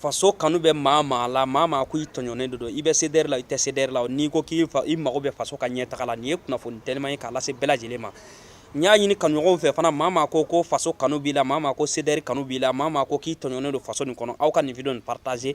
faso kanu bɛ maa maa la maa maa ko i tɔɲɔnen de don i bɛ seder la i tɛ seder la n'i ko k'i i mago bɛ faso ka ɲɛtaga la nin ye kunnafoni tɛma ye k'a lase bɛɛ lajɛlen ma n y'a ɲini kanuɲɔgɔn fɛ fana maa maa ko ko faso kanu b'i la maa maa ko seder kanu b'i la maa maa ko k'i tɔɲɔnen don faso nin kɔnɔ aw ka nin video nin partage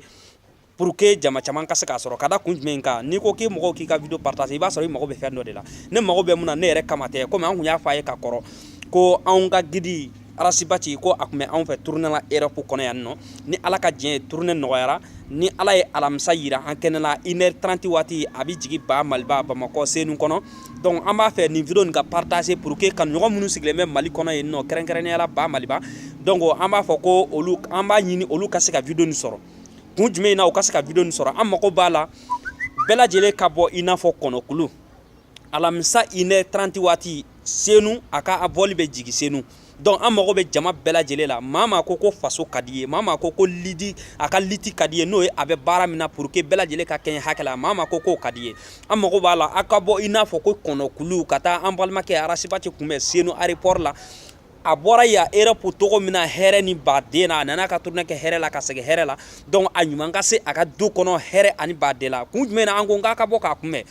pur que jama caman ka se k'a sɔrɔ ka da kun jumɛn kan n'i ko k'i mɔgɔw k'i ka video partage i b'a sɔrɔ i mago bɛ fɛn dɔ de la ne mago bɛ mun na ne yɛrɛ kama tɛ kɔmi an tun y'a fɔ a ye ka kɔrɔ ko anw ka gidi arasibati ko a tun bɛ anw fɛ turune la erɔp kɔnɔ yan nɔ ni ala ka diɲɛ ye turune nɔgɔyara ni ala ye alamisa yira an kɛnɛ la inɛri 30 waati a bɛ jigi ba maliba bamakɔ senu kɔnɔ donc an b'a fɛ nin video nin ka partage pour que kanuɲɔgɔn minnu sigilen bɛ mali kɔnɔ yen nɔ kɛrɛnkɛrɛnnenya la ba maliba donc an b'a fɔ ko olu an b'a ɲini olu ka se ka video nin sɔrɔ kun jumɛn in na u ka se ka video nin sɔrɔ an mago b'a la bɛɛ lajɛlen ka bɔ i n'a fɔ kɔnɔkulu alamisa inɛ 30 waati senu a ka vɔli bɛ jigi senu donc an mago bɛ jama bɛɛ lajɛlen la maa maa ko ko faso ka di ye maa maa ko ko liti a ka liti ka di ye n'o ye a bɛ baara min na pour que bɛɛ lajɛlen ka kɛɲɛ hakɛ la maa maa ko k'o ka di ye an mago b'a la a ka bɔ i n'a fɔ ko kɔnɔkuluw ka taa an balimakɛ arasibati kunbɛn senu aéroport la a bɔra yan Europe cogo min na hɛrɛ ni baden na a nana a ka turune kɛ hɛrɛ la ka segin hɛrɛ la donc a ɲuman ka se a ka du kɔnɔ hɛrɛ ani baden la kun jumɛn na an ko k'a ka bɔ k'a kunbɛn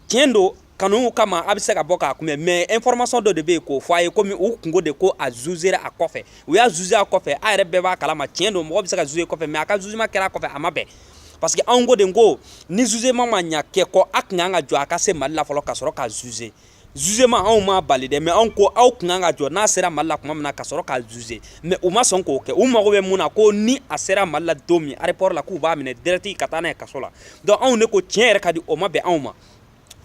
tiɲɛ don kanu kama a bɛ se ka bɔ k'a kunbɛn mɛ ɛnfɔrɔmasɔn dɔ de bɛ yen k'o fɔ a ye kɔmi u tun ko de ko a zuze a kɔfɛ u y'a zuze a kɔfɛ a yɛrɛ bɛɛ b'a kalama tiɲɛ don mɔgɔ bɛ se ka zuze kɔfɛ mɛ a ka zuzema kɛra a kɔfɛ a ma bɛn parce que anw ko de ko ni zuzema ma ɲɛ kɛ kɔ a tun kan ka jɔ a ka se mali la fɔlɔ ka sɔrɔ k'a zuze zuzema anw ma bali dɛ mɛ anw ko aw tun kan ka jɔ n'a sera mali la tuma min na ka sɔrɔ k'a zuze mɛ u ma sɔn k'o kɛ u mago bɛ mun na ko ni a sera mali la don min aéroport la k'u b'a minɛ dɛrɛti ka taa n'a ye kaso la donc anw de ko tiɲɛ yɛrɛ ka di o ma bɛn anw ma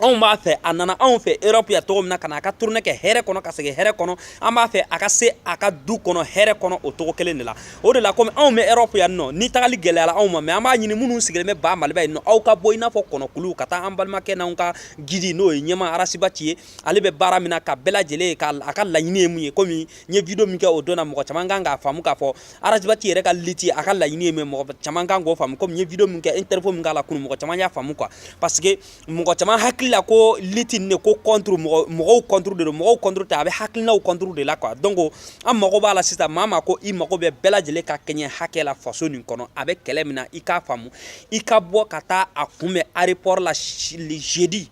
anw b'a fɛ a nana anw fɛ erɔp yan cogo min na ka na a ka turune kɛ hɛrɛ kɔnɔ ka segin hɛrɛ kɔnɔ an b'a fɛ a ka se a ka du kɔnɔ hɛrɛ kɔnɔ o cogo kelen de la o de la komi anw bɛ erɔp yan nɔ ni tagali gɛlɛyala anw ma mɛ an b'a ɲini minnu sigilen bɛ ba maliba yen nɔ aw ka bɔ i n'a fɔ kɔnɔkulu ka taa an balimakɛ n'anw ka gidi n'o ye ɲɛmaa arasibati ye ale bɛ baara min na ka bɛɛ lajɛlen ye a ka laɲini ye mun ye komi n ye video min kɛ o don na mɔgɔ caman kan k'a faamu k'a fɔ arasibati yɛrɛ ka liti a ka laɲini ye mɛ mɔgɔ caman kan k'o faamu komi n ye video min kɛ interview min k'a la kunu mɔgɔ caman y'a faamu quoi parce que mɔgɔ caman hakili la ko liti nin ko contre mɔgɔw contre de don mɔgɔw contre tɛ a bɛ hakilinaw contre de la quoi donc an mago b'a la sisan maa maa ko i mago bɛ bɛɛ lajɛlen ka kɛɲɛ hakɛ la faso nin kɔnɔ a bɛ kɛlɛ min na i k'a faamu i ka bɔ ka taa a kunbɛn aéroport la jeudi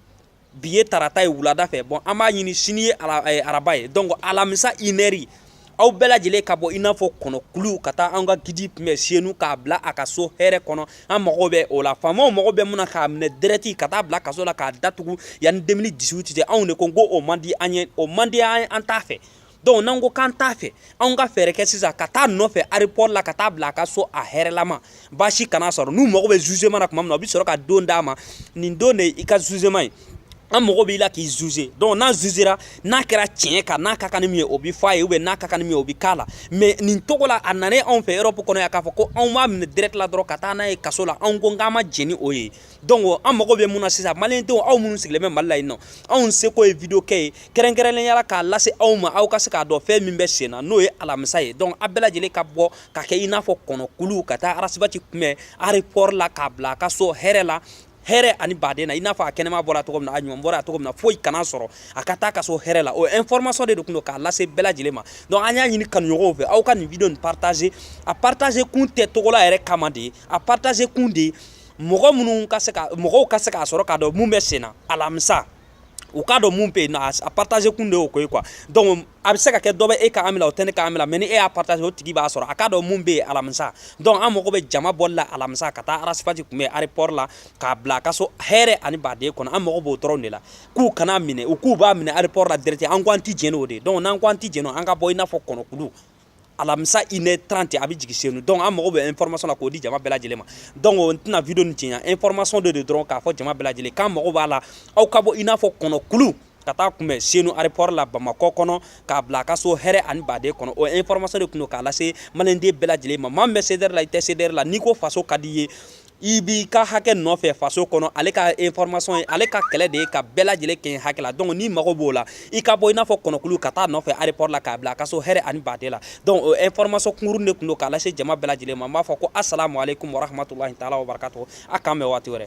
bi ye tarata ye wulada fɛ bɔn an b'a ɲini sini ye eh, araba ye donc alamisa inɛri aw bɛɛ lajɛlen ka bɔ i n'a fɔ kɔnɔkuluw ka taa an ka gidi kunbɛn senu k'a bila a ka so hɛrɛ kɔnɔ an mago bɛ o la faamaw mago bɛ mun na k'a minɛ dɛrɛti ka taa bila kaso la k'a datugu yanni 2018 cɛ anw de ko ko o man di an ye o man di an ye an t'a fɛ dɔnku n'an ko k'an t'a fɛ anw ka fɛɛrɛ kɛ sisan ka taa nɔfɛ arepɔri la ka taa bila a ka so a hɛrɛlama baasi kana a sɔrɔ n'u mago bɛ zuzema na tuma min na u bɛ sɔrɔ ka don d'a ma nin don de i ka zuzema ye an mago b'i la k'i zuze dɔnku n'a zuzera n'a kɛra tiɲɛ kan n'a ka kan ni min ye o bɛ fɔ a ye ubiyɛn n'a ka kan ni min ye o bɛ k'a la mɛ nin cogo la a nanen anw fɛ erɔpu kɔnɔ yan k'a fɔ ko aw b'a minɛ dirɛkti la dɔrɔn ka taa n'a ye kaso la anw ko k'an ma jɛn ni o ye Donc an mago bɛ mun na sisan maliyɛndenw aw minnu sigilen bɛ mali la yen nɔ anw seko ye video kɛ ye kɛrɛnkɛrɛnnenya la k'a lase aw ma aw ka se k'a dɔn fɛn min bɛ sen na n'o ye alamisa ye donc a bɛɛ lajɛlen ka bɔ ka kɛ i n'a fɔ kɔnɔkulu ka taa arasibati kunbɛn arepɔri la k'a bila a ka so hɛrɛ la hɛrɛ ani baden na i n'a fɔ a kɛnɛma bɔra cogo min na a ɲuman bɔra cogo min na foyi kana sɔrɔ a ka taa a ka so hɛrɛ la o information de tun don k'a lase bɛɛ lajɛlen ma donc an y'a ɲini kanuɲɔgɔnw fɛ aw ka nin video nin partage a partage kun tɛ tɔgɔla yɛrɛ kama de ye a partage kun de ye mɔgɔ minnu ka se ka mɔgɔw ka se k'a sɔrɔ k'a dɔn mun bɛ sen na alamisa u k'a dɔn mun bɛ yen nɔ a partage kun de y'o ko ye quoi donc a bɛ se ka kɛ dɔ bɛ e ka ami la o tɛ ne ka ami la mais ni e y'a partage o tigi b'a sɔrɔ a k'a dɔn mun bɛ yen alamisa donc an mago bɛ jama bɔli la alamisa ka taa arasibati kunbɛn aéroport la k'a bila a ka so hɛrɛ ani baden kɔnɔ an mago b'o dɔrɔn de la k'u kana minɛ u k'u b'a minɛ aéroport la direct an ko an tɛ jɛn n'o de ye donc n'an ko an tɛ jɛn n'o an ka bɔ i n'a fɔ kɔnɔkulu alamisa une heure trente a bɛ jigin senu donc an mago bɛ information na k'o di jama bɛɛ lajɛlen ma donc o n tɛna video nin janya information de don dɔrɔn k'a fɔ jama bɛɛ lajɛlen k'an mago b'a la aw ka bɔ i n'a fɔ kɔnɔkulu ka taa kunbɛn senu aéroport la bamakɔ kɔnɔ k'a bila a ka so hɛrɛ ani baden kɔnɔ o information de tun don k'a lase maliyɛnden bɛɛ lajɛlen ma maa min bɛ CDR la i tɛ CDR la n'i ko faso ka di i ye i b'i ka hakɛ nɔfɛ faso kɔnɔ ale ka information ye ale ka kɛlɛ de ye ka bɛɛ lajɛlen kɛɲɛ hakɛ la donc n'i mago b'o la i ka bɔ i n'a fɔ kɔnɔkulu ka taa nɔfɛ aéroport la k'a bila a ka so hɛrɛ ani baden la donc o information kunkuruni de tun don k'a lase jama bɛɛ lajɛlen ma n b'a fɔ ko asalamu aleykum warahmatulahi taala wabarakatu a k'an bɛn waati wɛrɛ